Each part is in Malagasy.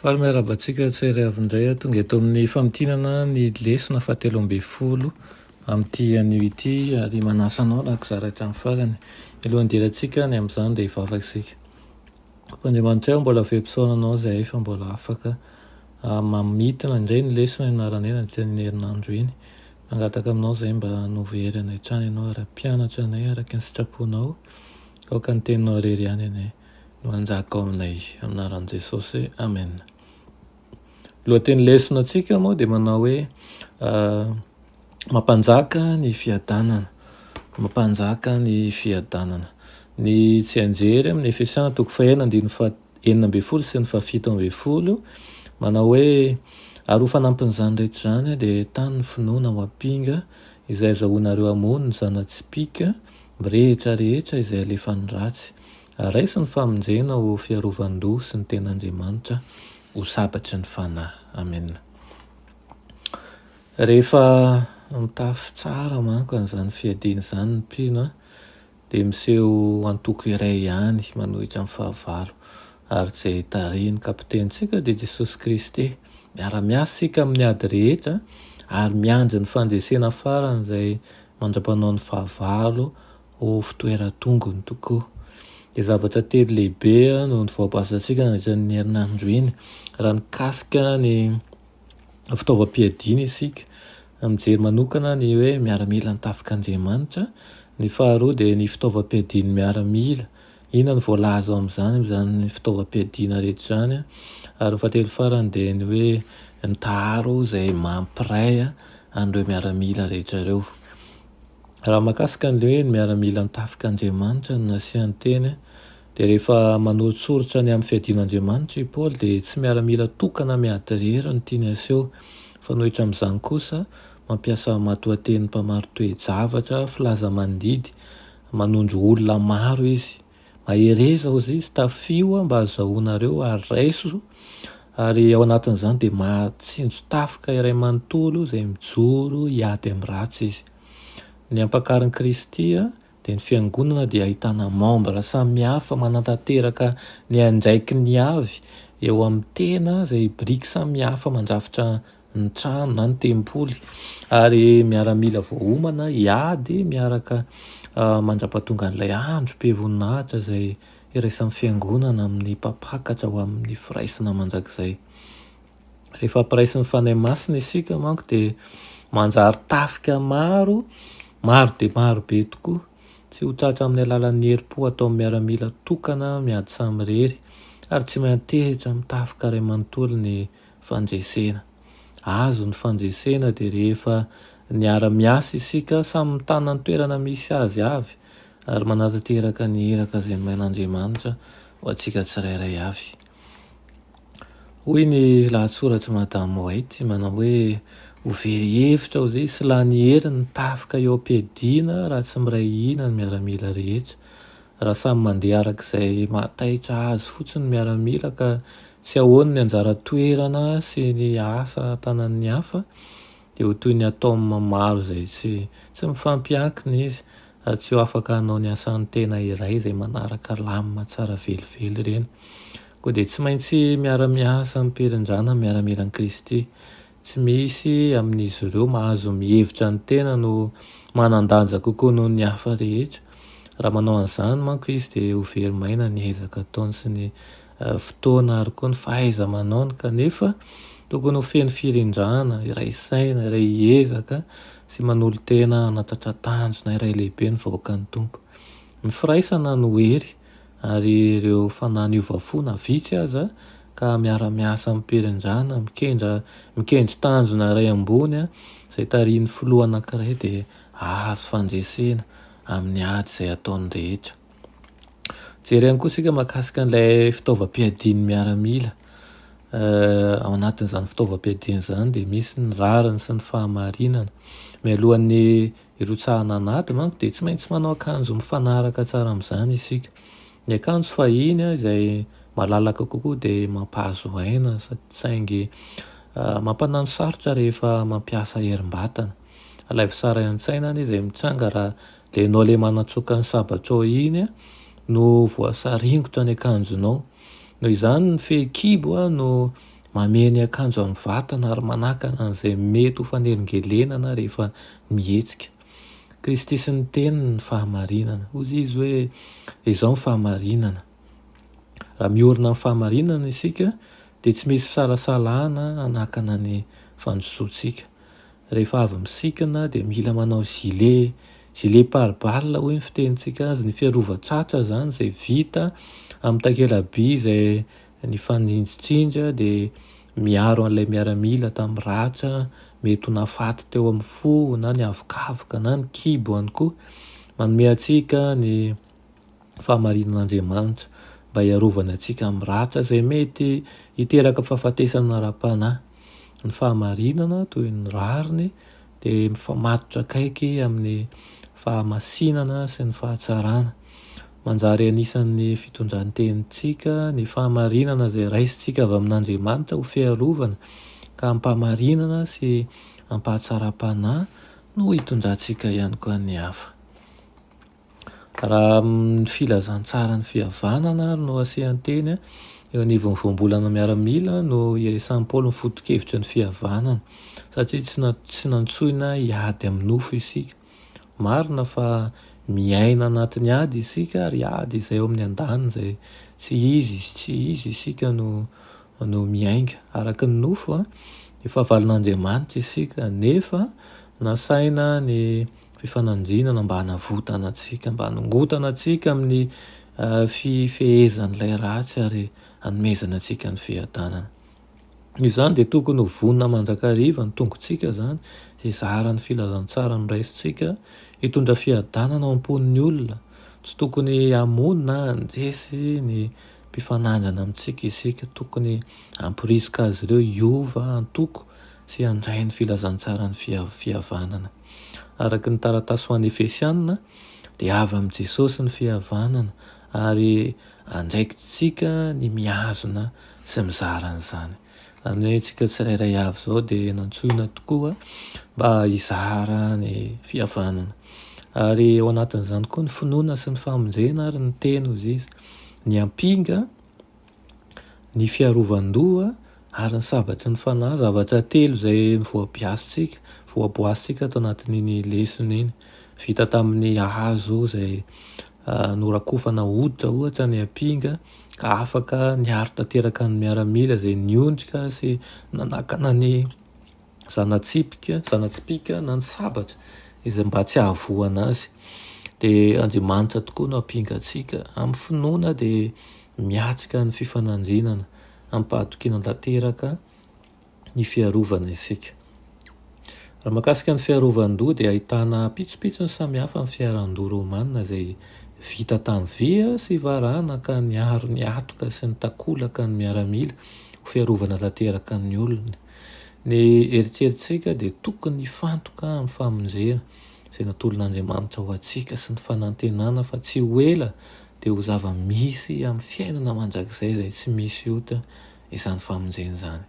Faly miarahaba antsika tsy ary avy indray aho. Tonga eto amin'ny famintinana ny lesona fahatelo ambin'ny folo amin'ity anio ity ary manasa anao raha kizara hatramin'ny farany. Mialohan'ny hidirantsika any amin'izany dia hivavaka isika. Tompo Andriamanitray ô, mbola very fisaorana anao izahay fa mbola afaka mamintina indray ny lesona ianarana eny amin'ity herinandro iny. Mangataka aminao izahay mba hanovo hery anay hatrany ianao ary hampianatra anay araka ny sitraponao, aoka ny teninao irery ihany anie. no hanjaka ao aminay. Amin'anaran'i Jesosy, amen. Lohateny lesona antsika moa dia manao hoe mampanjaka ny fiadanana, mampanjaka ny fiadanana. Ny tsianjery amin'ny Efesiana toko fahenina andininy faha enina ambin'ny folo sy ny fahafito ambin'ny folo manao hoe ary ho fanampin'izany rehetra izany dia tany ny finoana ho ampinga izay azahoanareo hamono ny zana-tsipìka Mirehitra rehetra izay alefan'ny ratsy. Araiso ny famonjena ho fiarovan-doha sy ny ten'Andriamanitra ho sabatry ny fanahy. Amena. Rehefa mitafy tsara manko an'izany fiadiana izany ny mpino dia miseho antoko iray ihany manohitra ny fahavalo ary izay tarihin'ny Kapitenintsika dia Jesosy Kristy. Miara-miasa isika amin'ny ady rehetra ary miandry ny fandresena faran'izay mandra-panao ny fahavalo ho fitoeran-tongony tokoa. Dia zavatra telo lehibe no novaobasantsika nandritra ny herinandro iny. Raha mikasika ny fitaovam-piadiana isika, mijery manokana ny hoe miaramila ny tafik'Andriamanitra. Ny faharoa dia ny fitaovam-piadian'ny miaramila Inona no voalaza ao amin'izany, amin'izany fitaovam-piadiana rehetra izany? Ary ny fahatelo farany dia ny hoe mitaharo izay mampiray an'ireo miaramila rehetra ireo. Raha mahakasika an'ilay hoe ny miaramila ny tafik'Andriamanitra no nasiany teny dia rehefa manoritsoritra ny amin'ny fiadiana Andriamanitra i Paoly dia tsy miaramila tokana miady irery no tiany haseho fa nohitra amin'izany kosa mampiasa matoatenin'ny mpamari-toe-javatra filaza-mandidy Manondro olona maro izy. Mahereza hozy izy, tafio aho mba hazahoanareo ary raiso, ary ao anatin'izany dia mahatsinjo tafika iray manontolo izay mijoro hiady amin'ny ratsy izy. Ny ampakarin'i Kristy dia ny Fiangonana dia ahitana membres samihafa manantanteraka ny andraikiny avy eo amin'ny tena izay biriky samihafa mandrafitra ny trano na ny tempoly ary miaramila voaomana hiady miaraka mandrapatonga an'ilay andro be voninahitra izay iraisan'ny fiangonana amin'ny mpampakatra ho amin'ny firaisana mandrakizay. Rehefa piraisin'ny Fanahy Masina isika manko dia manjary tafika maro, maro dia maro be tokoa. Tsy ho tratra amin'ny alalan'ny herim-po ataon'ny miaramila tokana miady samirery ary tsy miantehitra amin'ny tafika iray manontolo ny fandresena. Azo ny fandresena dia rehefa niara-miasa isika samy mitana ny toerana misy azy avy ary manatanteraka ny iraka izay nomen'Andriamanitra ho antsika tsirairay avy. Hoy ny lahatsoratr'i Madame White, manao hoe, Ho very hevitra aho izay sy lany hery ny tafika eo am-piadiana raha tsy miray hina ny miaramila rehetra. Raha samy mandeha araka izay maha taitra azy fotsiny ny miaramila ka tsy ahoany ny anjara toerana sy ny asa tanan'ny hafa dia ho toy ny atome maro izay tsy tsy mifampiankina izy ary tsy ho afaka hanao ny asan'ny tena iray izay manaraka lamina tsara velively ireny. Koa dia tsy maintsy miara-miasa amim-pirindrana ny miaramilan'i Kristy Tsy misy amin'izy ireo mahazo mihevitra ny tena no manan-danja kokoa noho ny hafa rehetra. Raha manao an'izany manko izy dia ho very maina ny ezaka ataony sy ny fotoana ary koa ny fahaiza-manaony kanefa tokony ho feno firindrana, iray saina, iray hiezaka sy manolo-tena hanatatra tanjona iray lehibe ny vahoakan'ny Tompo. Ny firaisana no hery Ary ireo fanahy niova fo na vitsy aza ka miara-miasa amim-pirindrana, mikendra, mikendry tanjona iray ambony izay tarihin'ny filoha anankiray dia azo fandresena amin'ny ady izay ataony rehetra. Jery ihany koa isika mahakasika an'ilay fitaovam-piadian'ny miaramila. Ao anatin'izany fitaovam-piadiana izany dia misy ny rariny sy ny fahamarinana. Mialohan'ny Irotsahana an'ady manko dia tsy maintsy manao akanjo mifanaraka tsara amin'izany isika. Ny akanjo fahiny izay malalaka kokoa dia mampahazo aina saingy mampanano sarotra rehefa mampiasa herim-batana. Alaivo tsara an-tsaina anie izay mitranga raha ilay ianao ilay manatsoaka ny sabatrao iny no voasaringotra ny akanjonao. Noho izany ny fehikibo no Mamehy ny akanjo amin'ny vatana ary manakana an'izay mety ho fanelingelenana rehefa mihetsika. Kristy sy ny Teniny ny fahamarinana. Hoy Izy hoe, Izao ny fahamarinana. Raha miorina amin'ny fahamarinana isika, dia tsy misy fisalasalana hanakana ny fandrosoantsika. Rehefa avy misikina, dia mila manao gilet, gilet pare-balles hoy ny fitenintsika azy, ny fiarovan-tsatra izany izay vita amin'ny takela-by izay Ny fanjinjitsinja dia miaro an'ilay miaramila tamin'ny ratra mety ho nahafaty teo amin'ny fo na ny havokavoka na ny kibo ihany koa. Manome antsika ny fahamarinan'Andriamanitra mba hiarovany antsika amin'ny ratra izay mety hiteraka fahafatesana ara-panahy. Ny fahamarinana toy ny rariny. dia mifamatotra akaiky amin'ny fahamasinana sy ny fahatsarana. Manjary anisan'ny fitondran-tenintsika ny fahamarinana izay raisintsika avy amin'Andriamanitra ho fiarovana ka am-pahamarinana sy am-pahatsaram-panahy no hitondrantsika ihany koa ny hafa. Raha amin'ny filazantsaran'ny fihavanana ary no asian-teny eo anivon'ny voambolana miaramila no iresahan'i Paoly ny foto-kevitra ny fihavanana, satria tsy na tsy nantsoina hiady amin'ny nofo isika. Marina fa miaina anatin'ny ady isika ary ady izay eo amin'ny andaniny izay tsy izy sy tsy izy isika no no miainga araka ny nofo an, ny fahavalon'Andriamanitra isika nefa nasaina ny fifanandrinana mba hanavotana antsika, mba hanongotana antsika amin'ny fifehezan'ilay ratsy ary hanomezana antsika ny fiadanana. Izany dia tokony ho vonona mandrakariva ny tongotsika izany, hizara ny filazantsara noraisintsika, hitondra fiadanana ao am-pon'ny olona. Tsy tokony hamono na handresy ny mpifanandrina amintsika isika, tokony hamporisika azy ireo hiova antoko sy handray ny filazantsaran'ny fihavanana. Araka ny taratasy ho an'ny Efesianina, dia avy amin'i Jesosy ny fihavanana, ary andraikitsika ny mihazona sy mizara an'izany. Izany hoe isika tsirairay avy izao dia nantsoina tokoa mba hizara ny fihavanana. Ary ao anatin'izany koa ny finoana sy ny famonjena ary ny teny, hoy izy, ny ampinga, ny fiarovan-doha ary ny sabatry ny fanahy, zavatra telo izay voabiasintsika, voaboasintsika ato anatin'iny lesona iny. Vita tamin'ny hazo izay norakofana hoditra ohatra ny ampinga ka afaka niaro tanteraka ny miaramila izay niondrika sy nanakana ny zana-tsipika, zana-tsipìka na ny sabatra izay mba tsy hahavoana azy. Dia Andriamanitra tokoa no hampinga antsika. Amin'ny finoana dia miatrika ny fifanandrinana amim-pahatokiana tanteraka ny fiarovana isika. Raha makasika ny fiarovan-doha dia ahitana pitsopitsony samihafa ny fiaran-doha romanina izay vita tamin'ny vy sy varahana ka niaro ny hatoka sy ny takolaka ny miaramila ho fiarovana tanteraka ny olony. Ny eritreritsika dia tokony hifantoka amin'ny famonjena izay natolon'Andriamanitra ho antsika sy ny fanantenana fa tsy ho ela dia ho zava-misy amin'ny fiainana mandrakizay izay tsy misy ota izany famonjena izany.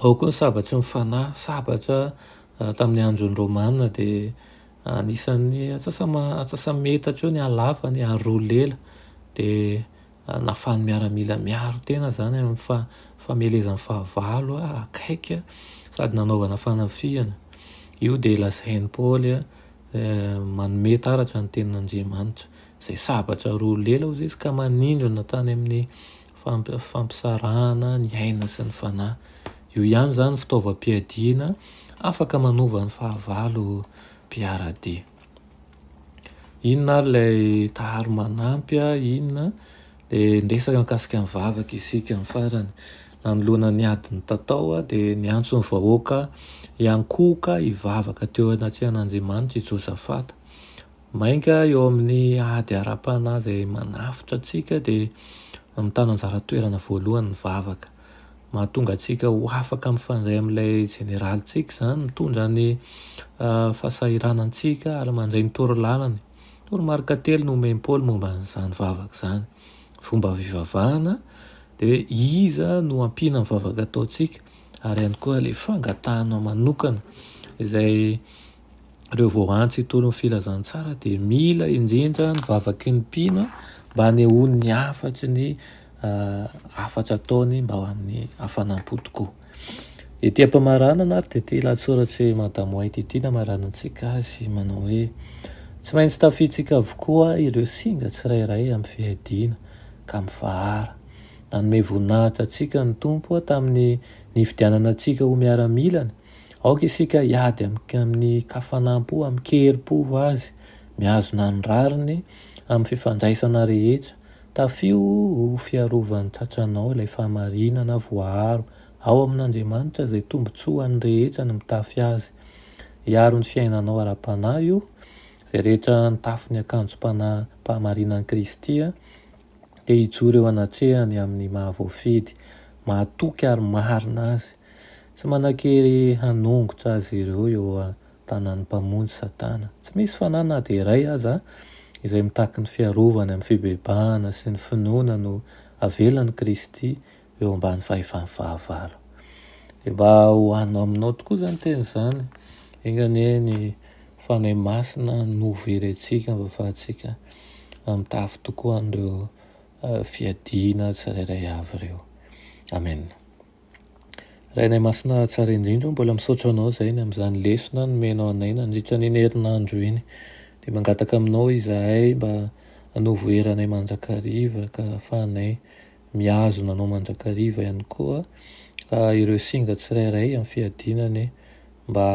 Ao koa ny sabatry ny fanahy, sabatra tamin'ny andron'ny Romana dia anisan'ny atsasa-metatra eo ny halafany ary roa lela dia Nahafahan'ny miaramila miaro tena izany amin'ny famelezany fahavalo akaiky sady nanaovana fanafihana. Io dia lazain'i Paoly manome taratra ny tenin'Andriamanitra, izay sabatra roa lela hoy izy ka manindrona tany amin'ny fampisarahana ny aina sy ny fanahy. Io ihany izany ny fitaovam-piadiana afaka manova ny fahavalo mpiara-dia. Inona ary ilay taharo manampy a, inona a? Dia niresaka mikasika ny vavaka isika ny farany. Nanoloana ny ady nitatao aho dia niantso ny vahoaka hiankohoka hivavaka teo anatrehan'Andriamanitra i Josafata. Mainka eo amin'ny ady ara-panahy izay manafotra antsika dia mitana anjara toerana voalohany ny vavaka. Mahatonga antsika ho afaka mifandray amin'ilay Jeneralintsika izany, mitondra ny fahasahiranantsika ary mandray ny torolalany. Toromarika telo no omen'i Paoly momba an'izany vavaka izany. Fomba fivavahana, dia iza no ampiana amin'ny vavaka ataontsika, ary ihany koa ilay fangatahana manokana izay ireo voarantsy hitory ny filazantsara dia mila indrindra ny vavaky ny mpino mba hanehoany ny hafatry ny hafatra ataony mba ho amin'ny hafanam-po tokoa. Ity am-pamaranana ary dia ity lahatsoratr'i Madame White ity namaranantsika azy manao hoe tsy maintsy tafiantsika avokoa ireo singa tsirairay amin'ny fiadiana ka mifahara. Nanome voninahitra antsika ny Tompo tamin'ny nifidianana antsika ho miaramilany. Aoka isika hiady amin'ny kafanam-po, amin-kerim-po ho azy, mihazona ny rariny amin'ny fifandraisana rehetra. Tafio ho fiarovan'ny tratranao ilay fahamarinana voaaro ao amin'Andriamanitra izay tombontsoa ho an'ny rehetra ny mitafy azy. Hiaro ny fiainanao ara-panahy io, izay rehetra nitafy ny akanjom-panahy-pahamarinan'i Kristy dia hijoro eo anatrehany amin'ny maha-voafidy, mahatoky ary marina azy. Tsy manan-kery hanongotra azy ireo eo an-tanan'ny Mpamonjy Satana. Tsy misy fanahy na dia iray aza izay mitaky ny fiarovany amin'ny fibebahana sy ny finoana no avelan'i Kristy eo ambany fahefan'ny fahavalo. Dia mba ho anao aminao tokoa izany teny izany. Enga anie ny Fanahy Masina no very antsika mba hahafahantsika mitafy tokoa an'ireo fiadiana tsirairay avy ireo. Amena. Rainay Masina tsara indrindra o, mbola misaotra anao izay ny amin'izany lesona nomenao anay nandritra an'iny herinandro iny. Dia mangataka aminao izahay mba hanovo hery anay mandrakariva ka hahafahanay mihazona anao mandrakariva ihany koa, ka ireo singa tsirairay amin'ny fiadiana anie mba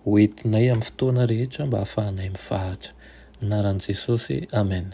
ho entinay amin'ny fotoana rehetra mba hahafahanay mivahatra. Amin'ny anaran'i Jesosy, Amen.